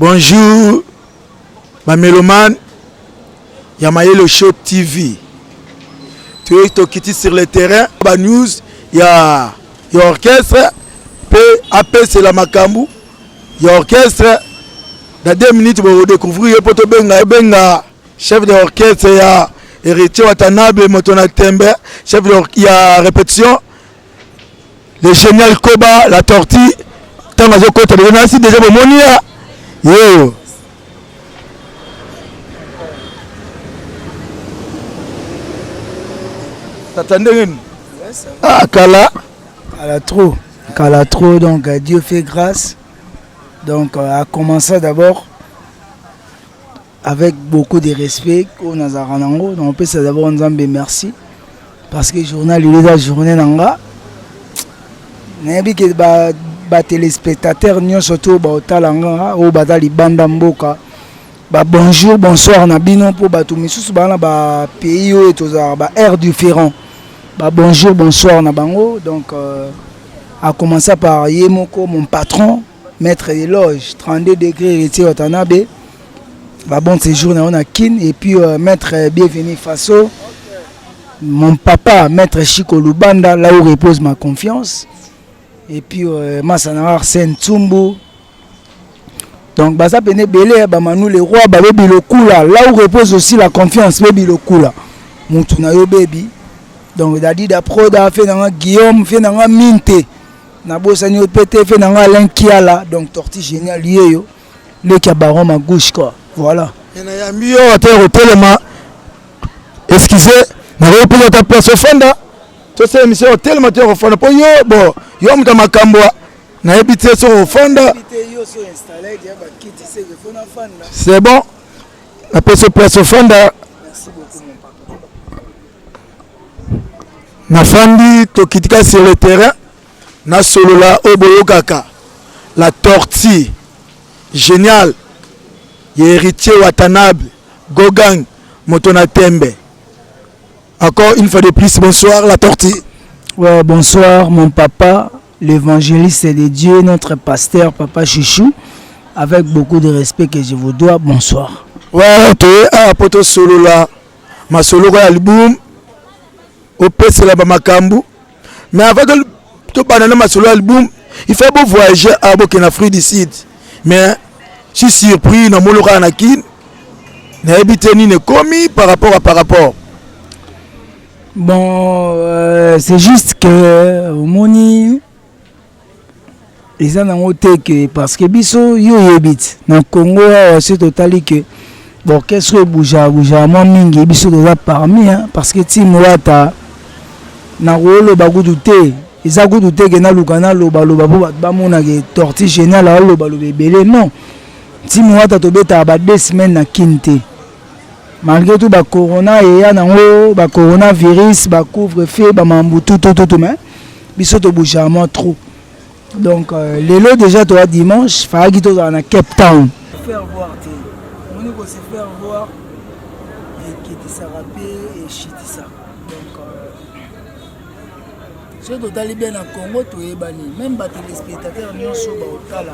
Bonjour, ma mélomane ya Mayelo Show TV. Tu es tokiti sur le terrain, ba news ya ya orchestre pe apesela makambu ya orchestre na 2 minutes bo découvrir ye po to benga benga chef de orchestre ya Héritier Watanabe moto na tembe chef de, ya répétition le génial koba la tortue ntango azokota boye nasi deja bomoni ya yeyo tata ndenge nini ah kala kala trop kala trop donc euh, dieu fait grâce donc euh, a commença d'abord Avec beaucoup de respect oyo nazalaka nango na opesa d'abord Nzambe merci parce que journal il eza journée na nga nayebi ke ba batelespectateur nyonso to baotala nga oyo baza libanda mboka babonjour bonsoir na bino mpo bato misusu baa na bapays oyo tozalaka ba aire différent babonjour bonsoir na bango donc euh, a commença par ye moko mon patron maître de loge 32 degré héritier watanabe babon séjour na yo na kin et puis euh, maître euh, bienvenu faso mon papa maître chiko lubanda là où repose ma confiance et puis euh, masana arsène tsumbu donc baza pene ebele ya bamanu le roi babe bilokula là où repose aussi la confiance be bilokula mutu na yo bebi donc dadida proda fe na nga guillaume fe na nga minte nabosani yo pe te fe na nga alain kiala donc torti génial yeyo leki ya baron ma gauche quoi voilà nayambi yo ata ya kotelema excuse nakoki pesa ata place ofanda tosala emission otelema te ya kofanda mpo yo bo yo moto ya makambo nayebi te soki ofanda c'est bon napesi place ofanda nafandi tokitika sur le terrain nasolola oyo boyokaka la tortue génial ya héritier watanabe gogang moto na tembe encore une fois de plus bonsoir la tortue ouais, bonsoir mon papa l'évangéliste de dieu notre pasteur papa chouchou avec beaucoup de respect que je vous dois bonsoir ouais, okay. ah, poto solola masolo oyo album opesela bamakambo mais avant que tobanda na masolo album il faut bovoyage a ah, bokenda afrique du sud mais si surpris na mono kaka na kin nayebi te nini ekomi par rapport à par rapport bon euh, c'est juste que omoni eza nango te ke parce que biso yo oyebi ti na congo awa soki totali ke baorchestre oyo ebujaka bujaka mwa mingi biso toza parmi parce que ti moata nakoloba kutu te eza kutu te ke naluka nalobaloba mpo bato bamona ke torti génial alobaloba ebele non ti moata tobetaka ba deux semaine na kin te malgré tout ba corona eya nango ba coronavirus ba couvre feu bamambu tutututu mais biso to bougeamment trop donc euh, lelo déjà toa dimanche fayaki tozala na cape town faire voir te omoni ko se faire voir eketisaka mpe eshitisaka donc euh, soki totali bien na congo toyebani meme batelespectateur nyonso baotala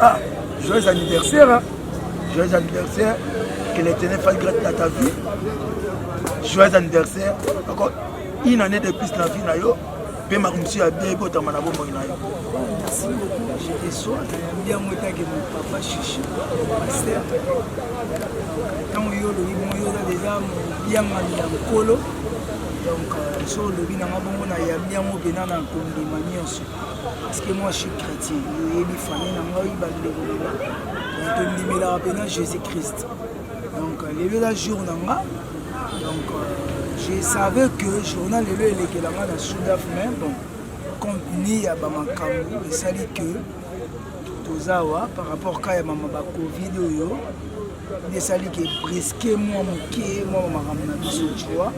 Ah, joyeux anniversaire, hein? joyeux anniversaire, que les tenez fasse grâce à ta vie. Joyeux anniversaire, encore une année de plus na vie na yo, mpe makambo ya bien ebotama na bomoi na yo. Merci beaucoup, je reçois bien moi que mon papa Chichi, pasteur. Ntango yo olobi bongo yo oza deja mobiangami ya mokolo donc euh, so olobi nanga bongo na yambi yango mpena na kondima nyonso parce que moi je suis chrétien oyebi famille na ngai bandeko lela donc tondimelaka mpena jésus christ donc euh, lelo eza jour na nga donc euh, je savais que journal lelo elekela nga na sudaf mais bon contenu ya bamakambo esali que toza awa par rapport ka ya mama bacovid oyo Nesali ke presque mwa moke mwa makambo na biso jua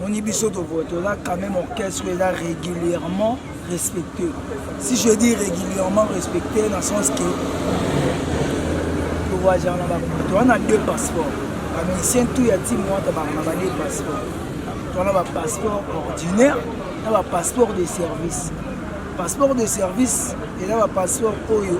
moni biso toza quand même orchestre eza régulièrement respecté si je dis régulièrement respecté na sens que towaja na bato wana deux passeport bamisien tout ya timo wata bakana ba deux passeport towana bapasseport ordinaire na bapasseport de service passeport de service eza bapasseport oyo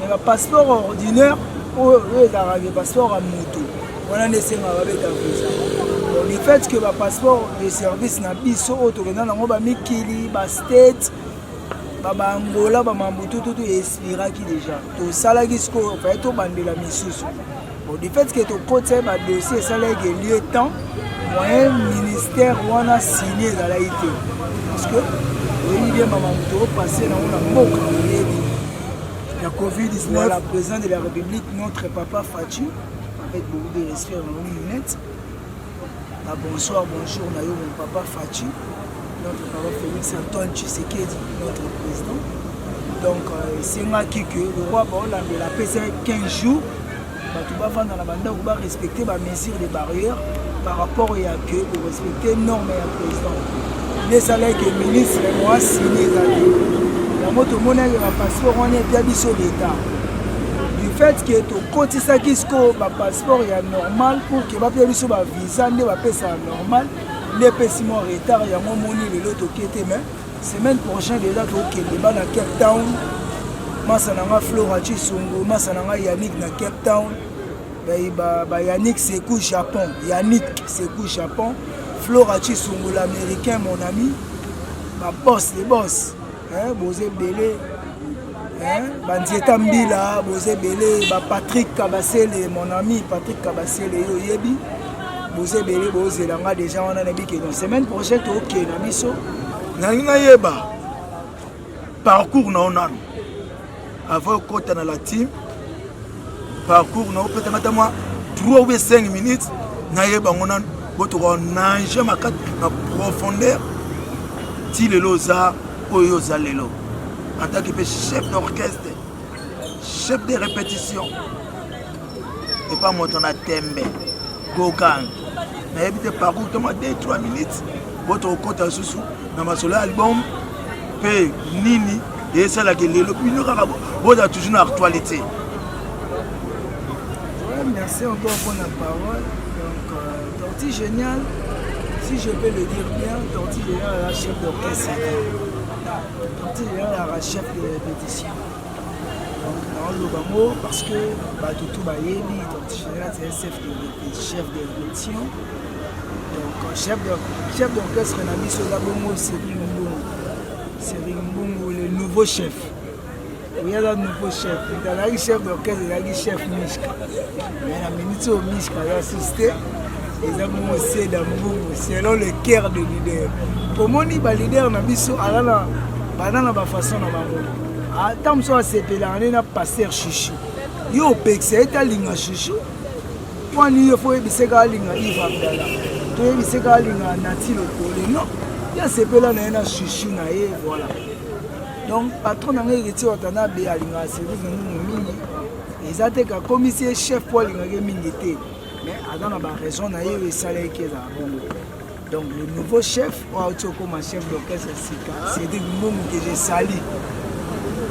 Mais ba passeport ordinaire oyo oyo ezalaka ke passeport ya moto wana nde esengaka babeta visa le fait que ba passeport de service na biso oyo tokenda nango bamikili bastate babangola bamambutututu expiraki déjà tosalaki sikoyo faye tobandela misusu Bon, du fait que tokotisa ba dossier esalaki que lieu temps moyen ministère wana signe ezalaki te parce que oyebi bien mama moto opasse nango na mboka oyebi ya covid-19 voilà, président de la république notre papa faci avec beaucoup de respect na bango minete Ba bonsoir, bonjour na yo mon papa Fatshi, notre papa Félix Antoine Tshisekedi, notre président. Donc euh, esengaki que le roi baolambela apesa 15 jours bato bavanda na bandako barespecte bamesure de barrière par rapport ya que orespecte norme ya président nde esalaki ministre moasini ezali yango tomonaki bapasseport wana ebya biso leta du fait que tokotisaki sikoyo bapasseport ya normal pour Bapeya biso ba visa nde bapesa normal nde epesi mwa retard yango moni lelo toke te mais semaine prochaine deja tokende bana Cape Town masa na nga Flora Chisongo masa na nga Yannick na Cape Town ba, ba Yannick Sekou Japon Yannick Sekou Japon Flora Chisongo l'américain mon ami ba boss les boss eh, boza ebele eh, banzieta mbila boza ebele ba patrick kabasele mon ami patrick kabasele yo oyebi boza ebele bozela nga deja wana na bikeno semaine prochaine tookee na biso nalingi nayeba parcours na yo nano Avant okota na la team parcours na opeta mata mwa 3 ou 5 minutes nayeba ngo nanu botoka nage makati na profondeur ti lelo oza oyo oza lelo en tant que mpe chef d'orchestre chef de répétition epa moto na tembe gogang nayebi te parcours toma 2 3 minutes po tokokota lisusu na masolo ya album mpe nini esalaka lelo bino kaka boza toujours na actualité merci encore pour la parole donc euh, torti génial si je peux le dire bien torti génial la chef d'orchestre torti génial la chef de répétition naoloba ngo parce que bato tout bayebi donc général c'est chef de chef de direction donc chef de chef d'orchestre na biso eza bongo Cyril Mbungu Cyril Mbungu le nouveau chef oyo aza nouveau chef ezalaki chef d'orchestre ezalaki chef mishka na minute oyo mishka aza susu te eza bongo se dambungu selon le cœur de leader omoni baleader na biso aza na baza na bafaçon na bango ata ah, mosusu asepelaka nde na paster chuchu yo opekisa ye te alinga chuchu wani yo fo oyebise kaka alinga ive abdala toyebise kaka alinga nati lokole non ye asepela na ye na chuchu na ye voilà donc patron na ngai héritier watanabe alingaka service na nunu mingi eza te kakomisi ye chef mpo alingaka ye mingi te mais aza na baraison na ye oyo esalaki ezala bongo donc le nouveau chef oyo auti okoma chef d'orchestre sika cédrik mbongo ke je sali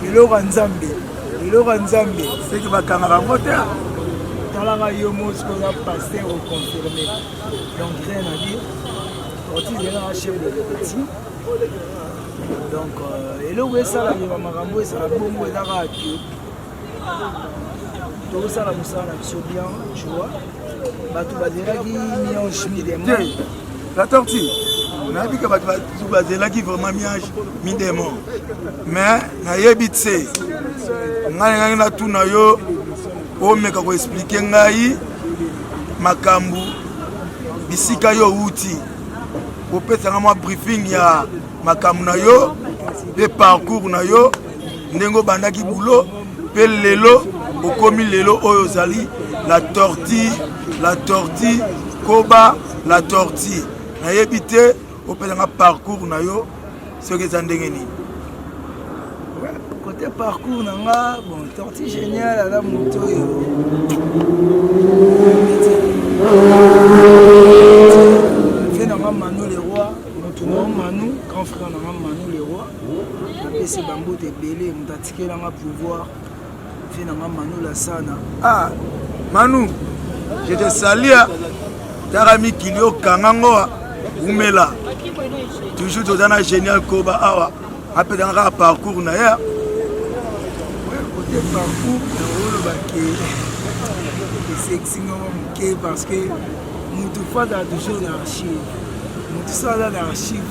eloko ya nzambe eloko ya nzambe seki bakangaka yango te talaka yo mosi oza paster oconfirme donc rien à dire orti ezalaka chef de répétition donc euh, eloko esalaka makambo ezala bongo ezaka ake tozosala mosala na biso bien joa bato bazelaki miange midemo la tortue nayebi ke bato bazelaki vraiment miange midemo mais nayebi tse ngai nengaki natuna yo omeka koexplike ngai makambo bisika yo outi kopesanga mwa briefing ya makambo na yo mpe parcours na yo ndenge obandaki boulot mpe lelo okomi lelo oyo ozali la tortue la tortue koba la tortue nayebi te opesanga parcours na yo soki eza ndenge nini kote parcours na nga bon tortue génial aza moto oyo vie na nga manu le roi moto na nga manu grand frère na nga manu le roi napesi bambote ebele moto atikela nga pouvoir vie na nga manu lasana ah manu je te salia tala mikili okanga ngoa umela toujours toza na génial koba awa apesaka kaka parcours na ye kote parcours naolobake esexinga mwa moke parce que motu fanda toujours na archive motu sala na archive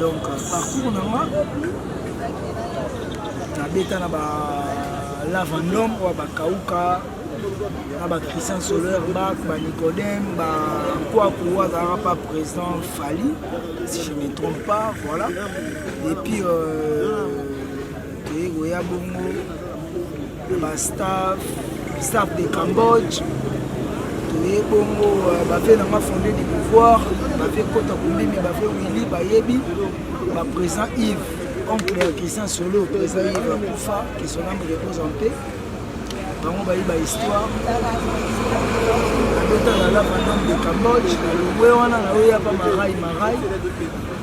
donc parcours na nga nabeta na ba lavandom oyo bakauka na ba christian soler bak ba nicodem ba nkwaku oyo azalaka pa président fali si je me trompe pas voilà et puis euh, toyei koya bongo ba staff staff de cambodge toye bongo euh, bave na nga fonde du pouvoir bave kota kombimi bave wili bayebi baprésent ive oncle ya christian solo présent ive akufa que son ame repose en paix bango bayi bahistoire abeta na lava dome de cambodge na longwe wana na oyo yapa marai marai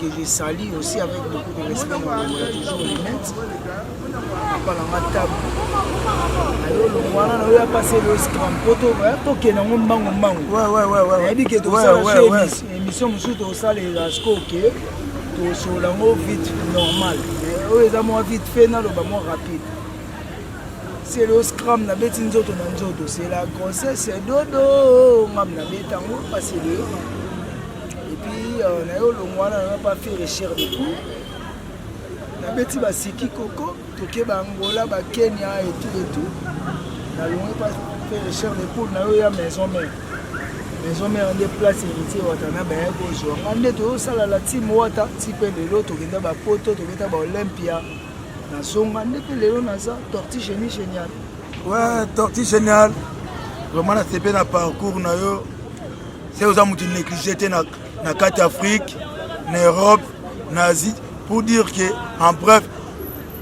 que je salue aussi avec beaucoup de respect mon amour toujours Linette papa na nga tabu ayo longwana na oyo apase lois grand poto tokende yango mbangu mbangu nayebi ke tosala so émission mosusu tosalela siko ke tosolola yango vite normal eh, oyo eza mwa vite fait naloba mwa rapide c'est le scram nabeti nzoto na nzoto c'est la grossesse dodo ngam nabeta yango parce que epuis euh, na yo olongo wana nanga pa faire cher de coup nabeti basiki koko toke baangola bakenya etout etout nalongi pa faire cher de coup na yo ya maison mère maison mère nde place héritier wata na baya kozwa nga nde toyosala la team wata ti mpe lelo tokenda bapoto tokenda baolympia nazonga nde mpe lelo naza torti genie génial ouais torti génial vraiment nasepeli na parcours na yo Sasa oza mutu neglige te na, na kati Afrique, na Europe, na Asie pour dire que en bref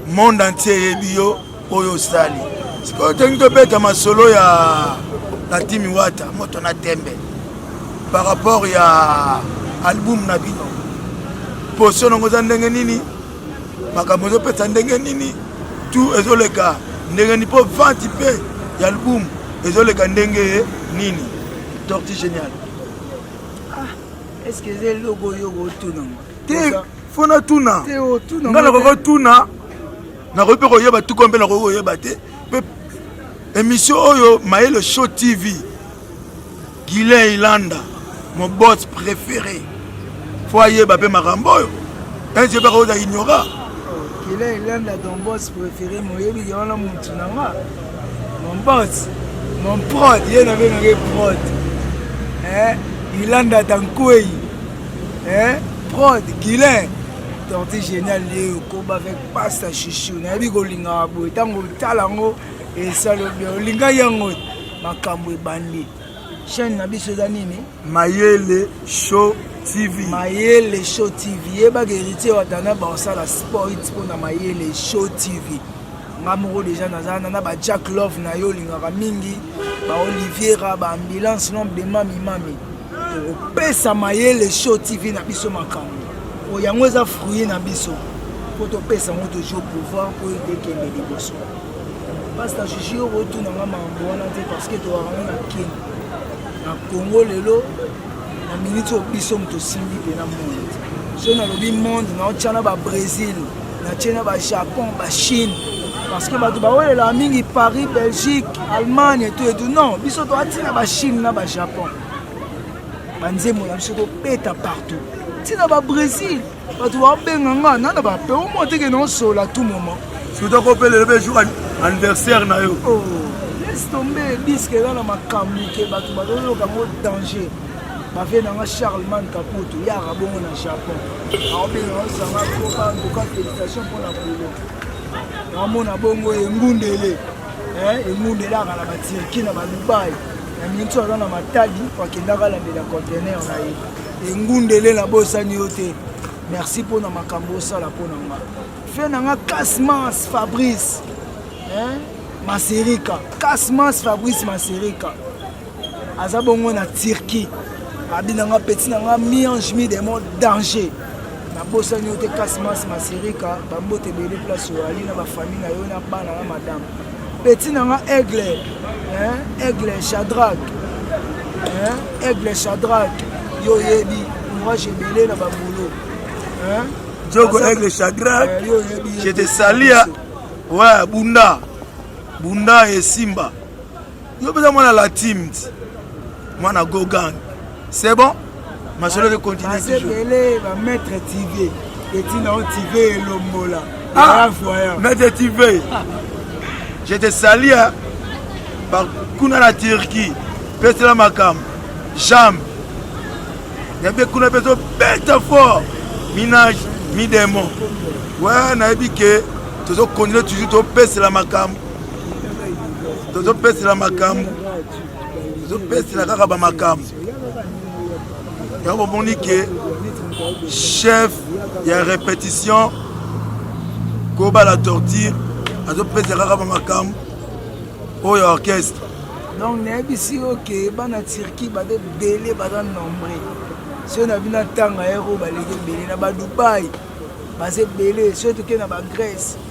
monde entier eyebi yo oyo osali. Sikoyo tolingi tobeta masolo ya na Timi Wata moto na tembe par rapport ya album na bino. Poso nango oza ndenge nini? makambo ezopesa ndenge nini tu ezoleka ndenge nini mpo venti mpe ya album ezoleka ndenge nini torti génial ah, eske eza eloko oyo okotunanga te fo natuna nga nakoki kotuna nakoki mpe koyeba tuko mpe nakoki koyeba te mpe émission oyo mayele show tv Guilain Ilanda, mon boss préféré. Faut ayeba pe makambo oyo. Enje bako za ignora. Guilain Ilanda, ton boss préféré, moyebi ke wana mutu na nga. Mon boss, mon prod, ye na bino ke prod. Eh, Ilanda Tankwei. Eh, prod, Guilain. Torti génial, ye okoba avec pasta chouchou. Na yebi kolinga boye tango tala ngo esalobia olinga yango makambo ebandi chaîne na biso eza nini mayele show tv mayele show tv yebaka héritier watana baosala sport mpo na mayele show tv nga moko deja naza wana na bajack love na yo olingaka mingi baoliviera baambulance nombre de mamimami Pesa mayele show TV na biso makambo. Oyo yango eza fruit na biso. Faut topesa yango toujours pouvoir mpo ete ekende liboso. Pasta Juju yo otuna nga makambo wana te parce que towaka ngo na Kin. Na Congo lelo na minute oyo biso moto osimbi mpe na monde. Soki nalobi monde naotya na ba Brésil. natie na bajapon bachine parce que bato bawelelaka mingi paris belgique allemagne etu etu non biso toatina bachine na bajapon banzembo na biso tobeta partout ntina babrésil bato babenga nga nana bape omo teke naosola tout moment surtout akopelele mpe jour anniversaire na yo oh, laisse tombe diske eza na makambo ke bato bazoyoka yango danger ba vie na nga Charlemagne Kaputu ya rabongo na Japon aobenga ozanga koka ndoka félicitation mpo na polo namona bongo engundele eh, engundele aka na batirki na badubai na minso aza na matadi akendaka alandela contener na ye engundele na bosani yo te merci mpo na makambo osala mpo na nga fe na nga casmas fabrice eh, maserika casmas fabrice maserika aza bongo na turquie abi na nga peti na nga miange mi demo danger nabosani yo te kasi masi masirika bambote ebele place oyali na bafamille na yo na bana na madame peti na nga aigle aigle chadrak aigle chadrak yo oyebi courage ebele na babolo jogo aigle chadrak je te salia ouais bunda bunda esimba yo peza mwana la team ti mwana go gang c'est bon masolo ke continue toujours ebele ba maître tv etina o tv elombola ah maître tv je te salie par kuna na turquie pesela makambo jambe nayebi kuna mpe tobeta fort minage midemon we nayebi ke tozokontinue toujours topesela makambo tozopesela makambo tozopesela kaka bamakambo yango bomoni ke chef ya répétition kobala torture azopesa kaka bamakambo oyo orchestre donc nayebisi yo ke bana turquie baza ebele baza nombre soki na bino atanga yako baleki ebele na badubai baza ebele soki tokei na bagrèce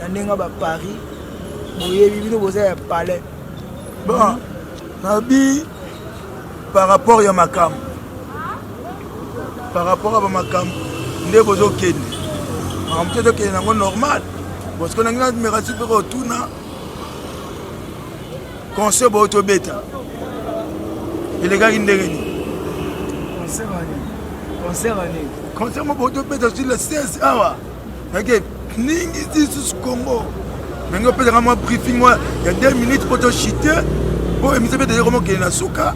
na ndenge ba paris boyebi bino boza ya palais bon nabi par rapport ya makambo par rapport ya bamakambo nde bozokende makambo te ezokende yango normal bosiko nangi namerasi mpe kotuna conseil boyo tobeta elekaki ndenge nini conseil mo boyo tobeta sur le 16 awa Eke ningi tisus Congo. Nange opesa kama briefing mwa ya 2 minutes po to chite po emission pe deja komokende na suka.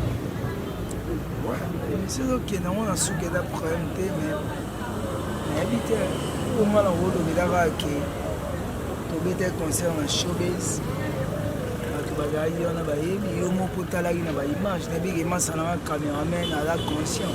Emission ezokende yango na suka eza problème te mais nayebi te oyo mwana yango olobelaka ke tobeta concert na showbase bato bazalaki wana bayebi yo moko otalaki na baimage nayebi ke masana na cameraman aza conscient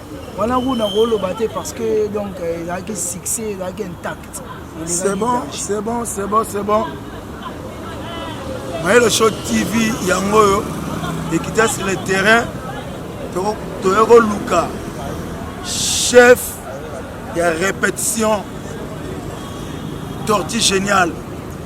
wana kutu nakoloba te parce que donc euh, ezalaki succès ezalaki intact c'est bon c'est bon c'est bon c'est bon mayelo show tv yango oyo ekita sur le terrain toye koluka chef ya répétition torti géniale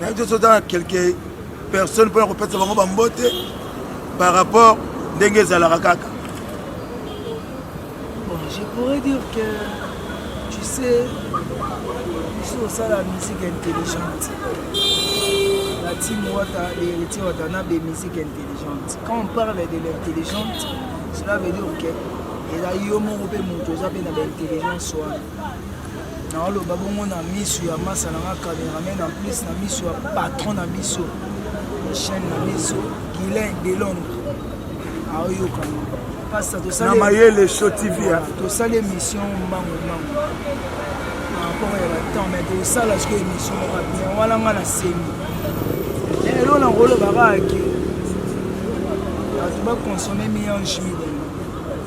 nayebi te soki na quelque personne mpona kopesa bango bambote par rapport ndenge ezalaka kaka je pourrais dire que tu sais biso osala musique intelligente la team wata héritier watanabe musique intelligente quand on parle de l'intelligente cela veut dire que eza yo moko mpe moto oza mpe na baintelligence wana naoloba bongo na miso ya masa na nga cameraman en plus na miso ya patron na biso ya chaîne na biso guilain de londres aoyoka pasta tosali mayele show tv tosali émission mbangu mbangu par rapport ya batemp mais tosala siko émission moko bien wana nga na semi elo na kolobaka ke bato baconsomme miange midele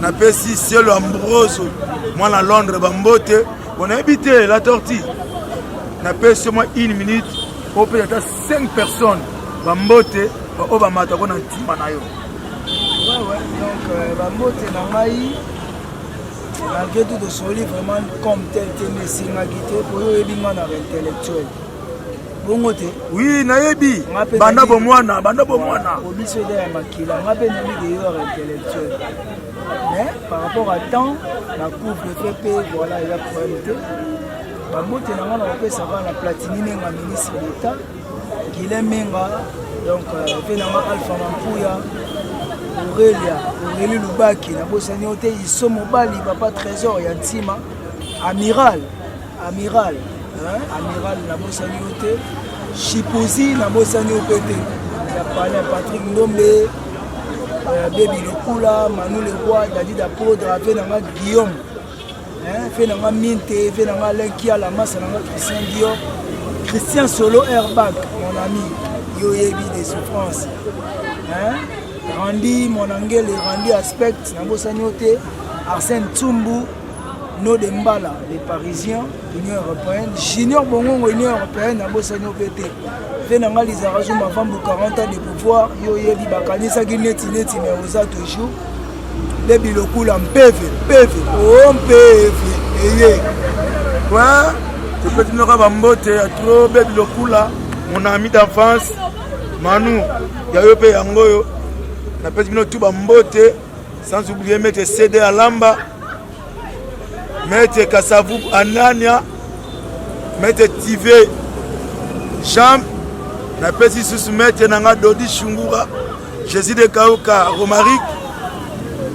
napesi cielo ambroso mwana londres bambote bonayebi te la torti napesi yo mwa une minute opesa ata 5 personnes bambote baoyo bamatako na ntima na yo donc euh, bambote na ngai malgré tout tosoli vraiment comme tel te mesingaki te po yo oyebi ngai na intellectuel bongo te oui nayebi banda bomwana banda bomwana obiso eza ya makila nga mpe nani deyeur intellectuel mais par rapport à temps na couple te mpe voilà eza problème te babote na nga na kopesaka na platini nenga ministre d'état gile menga donc euh, mpe na nga alpha mampuya aurelia aurelie lubaki nabosani yo te iso mobali papa trésor ya ntima amiral Amiral, hein? Amiral na bosani yo te. Chipozi na bosani yo pe te. Ya Palais Patrick Ndombe, euh, Baby Lokula, Manu Leroy, Daddy da Podra, pe na nga Guillaume. Hein? Pe na nga Minte, pe na nga Alain Kiala, Masa na nga Christian Dior, Christian Solo Airbag, mon ami. Yo yebi des souffrances. Hein? Randy, mon angele, Randy Aspect, na bosani yo te. Arsène Tsumbu, no de mbala les parisiens union européenne junior bongongo union européenne abosani yo mpe te mpe na ngai lizaka zuma vambu 40 ans de pouvoir yo oyebi bakanisaki neti neti me oza toujours nde bilokula mpeve mpeve o oh, mpeve eye wa topeti noka bambote ya tro be bilokula mon ami d'enfance manu ya yo mpe yango oyo napesi bino tu bambote Sans oublier Maître CD Alamba, Maître Kasavu Anania, Maître Tive Jean, na pesi susu Maître nanga Dodi Shungura, Jésus de Kauka Romaric,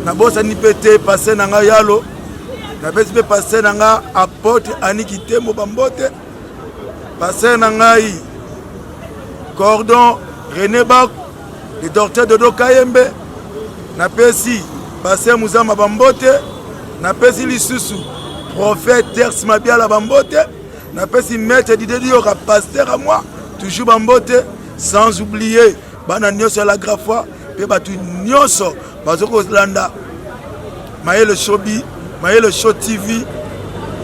na bosani pe te passe nanga Yalo, na pesi pe passe nanga Apôtre Aniki Tembo Bambote, passe na ngai Cordon René Bako le docteur dodo kayembe napesi baser muzama bambote napesi lisusu prophète ters mabiala bambote napesi maître didediyoka paster a moi toujours bambote sans oublier bana nyonso ya lagrafois mpe bato nyonso bazo kolanda mayele shobi mayele show tv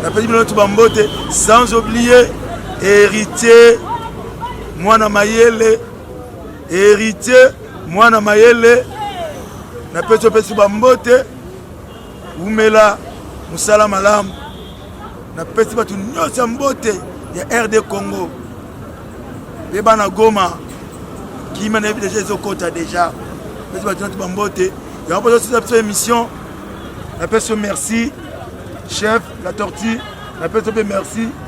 napesi bino ntu bambote sans oublier héritier mwana mayele Heritier mwana mayele na pesi opesi bambote wumela mosala malamu napesi bato nyonso ya mbote ya rd congo mpe bana goma kima na yebi deja ezokota deja pesi bato nyonso bambote yango mpo tosisa biso émission napesi yo merci chef la tortue napesi yo mpe merci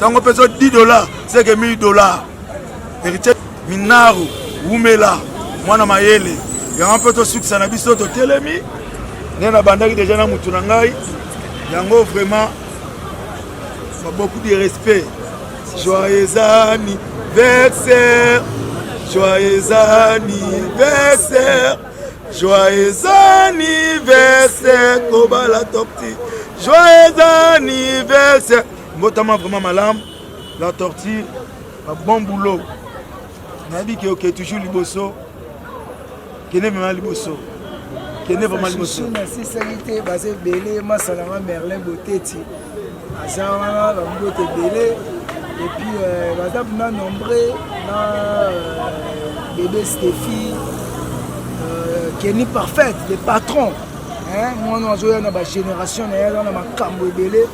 tango mpe so 10 dollars seke 1000 dollars héritier minaru wumela mwana mayele yango mpe tosukisa na biso totelemi nde nabandaki deja na motu na ngai yango vraiment beaucoup de respect joyeux anniversaire joyeux anniversaire Joyeux anniversaire kobala torti joyeux anniversaire mbotama vraiment malamu la tortue ba bon boulot nayebi ke oke toujours liboso kende mema liboso kende vraiment liboso nasisaki te baza ebele masalanga merlin boteti aza wana bambote ebele epuis euh, baza bna nombre na euh, bebe stephi euh, keni parfaite le patron mwana azoya na bagénération na ye aza na makambo ebele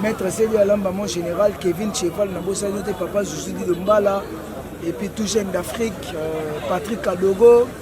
maître sebi alamba mon général kevin cheval na bosani te papa zuzudido mbala epuis tout jeune d'afrique patrick kadogo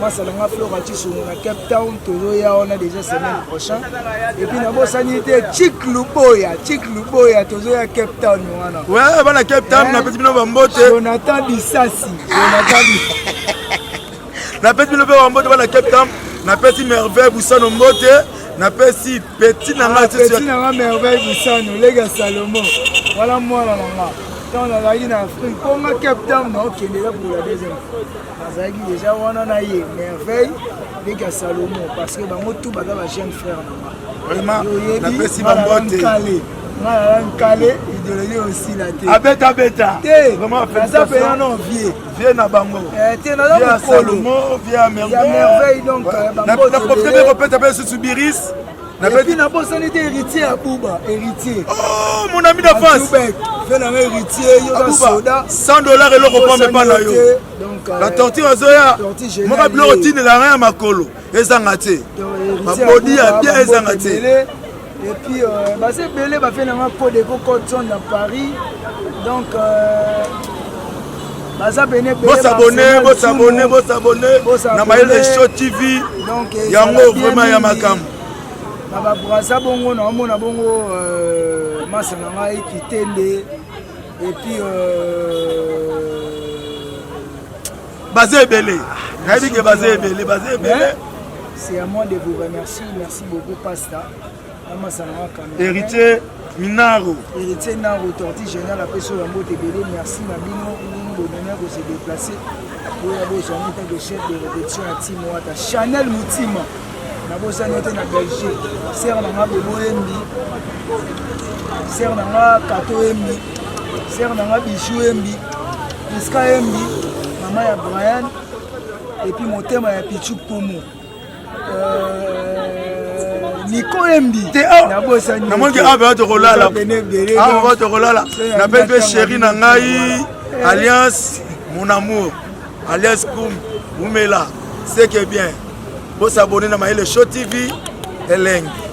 masala nga flora cisongo na cape town tozoya wana déjà semaine prochain epuis nabosani te chik luboya chik luboya tozoya cape town wana we bana cape town napesi bino bambote jonathan bisasi jonathan napesi bino mpe bambote bana cape town napesi merveille busano mbote napesi peti na nga peti na nga merveille busano lega salomo wana mwana na nga ntango nazalaki na afrique mpo nga cape town naokendela pour la deuxième fois bazalaki deja wana na ye merveille leki ya salomon parce que bango tout baza ba jeune frère nanga napesi bambote nga nala nkale idéologie osila te abetabeta teaza pena non vie vie na bango eh, te naza mokolo ya merveille donc eh, na profite mpe kopesa mpe lisusu biris nabeti nabosani te héritier ya buba héritier oh mon ami d'avance fe nanga héritier yoka soda 100 dollars eloko pombe epa na yo la euh, torture azoya moka biloko otindela nga ya makolo ezanga te babodi ya bien ezanga te epuis euh, baza ebele bafe nanga code eko code zone na paris donc euh, bosabone bosabone bosabone na mayele show tv yango vraiment ya makambo na babrasa bongo naomona bongo euh, masa na ngai kitende epuis euh, baza ebele nayebi ke baza ebele baza ebele c'est à moi de vous remercier merci beaucoup pasta Héritier Minaro. Héritier Naro, torti général, après sur la mot ebele, merci na bino, nous bonheur de se déplacer. Pour la bosse, en tant que chef de rédaction à Timoata, Chanel Moutima, na bosse en tant que Belgique, Serre Nanga Bobo Embi, Serre Nanga Kato Embi, Serre Nanga Bichou Embi, Iska Embi, Maman ya Brian, et puis mon thème à Pichou Pomo. namonaki awa mpenza tokolala awa mpenza tokolala nape mpe sheri na ngai eh. alliance mon amour alliance kum umela seke bien bosabone na mayele show tv elengi